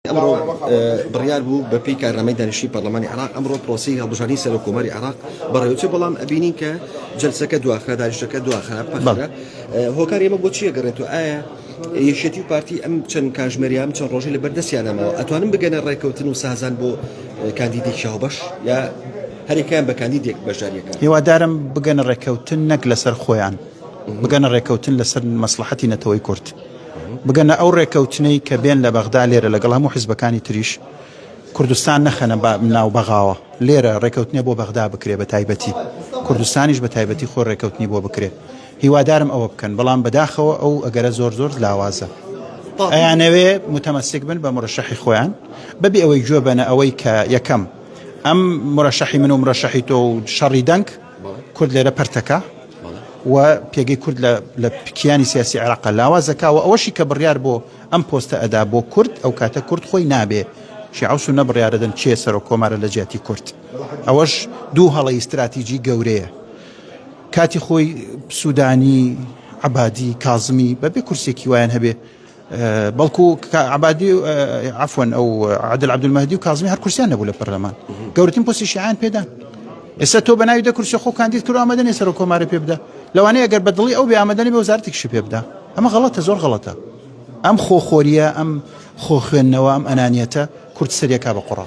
ئەمڕۆ بڕیار بوو بە پێی کارنامەی دانیشتنی پەرلەمانی عراق ئەمڕۆ پرۆسی هەڵبژاردنی سەرۆک کۆماری عراق بەڕێوچێ بەڵام ئەبینین کە جلسەکە دواخرا دانیشتەکە دواخرا پەخرا هۆکار ئێمە بۆ چیە گەڕێت و ئایا یەکێتی و پارتی ئەم چەند کاژمێریان چەند ڕۆژی لە بەردەستیانەمەوە ئەتوانم بگەنە ڕێککەوتن و سازان بۆ کاندیدی شاوبەش یا هەرێکیان بە کاندیدێک بەشداریەکە هیوادارم بگەنە ڕێککەوتن نەک لەسەر خۆیان بگەنە ڕێککەوتن لەسەر مەسلحەتی نەتەوەی کورد بگەنە ئەو ڕێکەوتنەی کە بێن لە بەغدا لێرە لەگەڵ هەموو حزبەکانی تریش کوردستان نەخەنە با ناو بەغاوە لێرە ڕێکەوتنێ بۆ بەغدا بکرێ بە تایبەتی کوردستانیش بە تایبەتی خۆ ڕێکەوتنی بۆ بکرێ هیوادارم ئەوە بکەن بەڵام بەداخەوە ئەو ئەگەرە زۆر زۆر لاوازە ئەیانەوێ متەمەسک بن بە مرەشەحی خۆیان بەبێ ئەوەی گوێ بەنە ئەوەی کە یەکەم ئەم مرەشەحی من و مرەشەحی تۆ و شەڕی دەنگ کورد لێرە پەرتەکە و پێگەی کورد لە کیانی سیاسی عێراقا لاوازەکەەوە ئەوەشی کە بڕیار بۆ ئەم پۆستە ئەدا بۆ کورد ئەو کاتە کورد خۆی نابێ شیعوس و نەبڕیارەدەن چێ سەرۆک کۆمارە لە جیاتی کورد ئەوەش دوو هەڵی استراتیجی گەورەیە کاتی خۆی سوودانی عبادی کازمی بەبێ کورسێکی وایان هەبێ بەڵکو عەبادی عفوەن ئەو عادل عبدمەدی و کازمی هەر کورسیان نەبوو لە پەرلەمان گەورتن پۆسی شیعان پێدان ئێستا تۆ بەناوی دە کورسی خۆ کاندید کرد ئامادەنی سەر کۆمارە پێ بدە لەوانەیە گەر بەدڵی ئەو بێ ئامادەنی بە وزارتێکشی پێ بدە ئەمە غڵەتە زۆر غڵەتە ئەم خۆخۆریە ئەم خۆ خوێندنەوە ئەم ئەنانیەتە کورد سەرەکە بە قڕە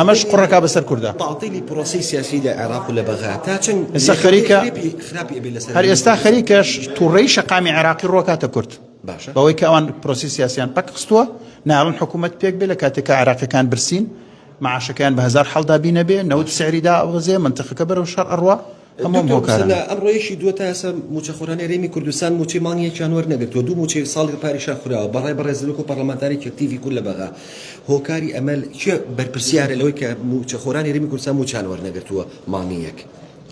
ئەمەش قڕەکە بەسەر کوردە تاعتیلی پرۆسی سیاسی لە عێراق و لە بەغا تا چەند ئێستا خەریکە هەر ئێستا خەریکەش تووڕەی شەقامی عێراقی ڕۆکاتە کورد بەوەی کە ئەوان پرۆسی سیاسیان پەک خستووە ناڵن حکوومەت پێک بێ لە کاتێکە عێراقەکان برسین معاشەکەیان بە هزار حڵدا بینەبێ نەوت سعریدا ئەوەزێ منتەخەکە بەرەو شەر ئەڕوا هەمووان هۆکارن. دکتۆر ئەمڕۆ یەکی دووە تائێستا مووچەخۆرانی هەرێمی کوردستان مووچەی مانگی یەکیان وەرنەگرتووە، دوو مووچەی ساڵی پاریشان خوراوە بە ڕای بەڕێزت وەکو پەڕڵەمانتارێکی ئەکتیڤی کورد لە بەغا هۆکاری ئەمە کێ بەرپرسیارە لەوەی کە مووچەخۆرانی هەرێمی کوردستان مووچەیان وەرنەگرتووە مانگی یەک؟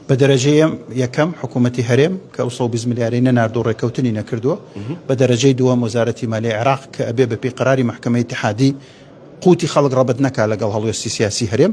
بە دەرەجە یەکەم حکوومەتی هەرێم کە ئەو سەد و بیست ملیارەی نەناردووە و ڕێککەوتنی نەکردووە، بە دەرەجەی دووەم وەزارەتی مالیەی عێراق کە ئەبێ بەپێی قەراری مەحکەمەی ئیتحادی قووتی خەڵک ڕەبت نەکا لەگەڵ هەڵوێستی سیاسی هەرێم،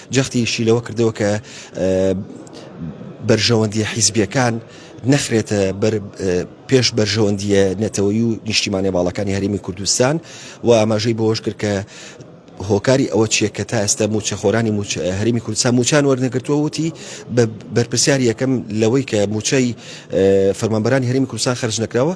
جەختیشی لەوە کردەوە کە بەرژەوەندیە حیزبیەکان نەخرێتە پێش بەرژەوەندیە نەتەوەی و نیشتیمانە باڵەکانی هەرێمی کوردستان و ئاماژەی بۆش کرد کە هۆکاری ئەوە چیە کە تا ئێستا موچەخۆرانی هەرمی کوردستان موچان وەرنەگرتووە وتی بە بەرپسیار یەکەم لەوەی کە موچەی فەرمانبەرانی هەرمی کوردستان خرج نەکراوە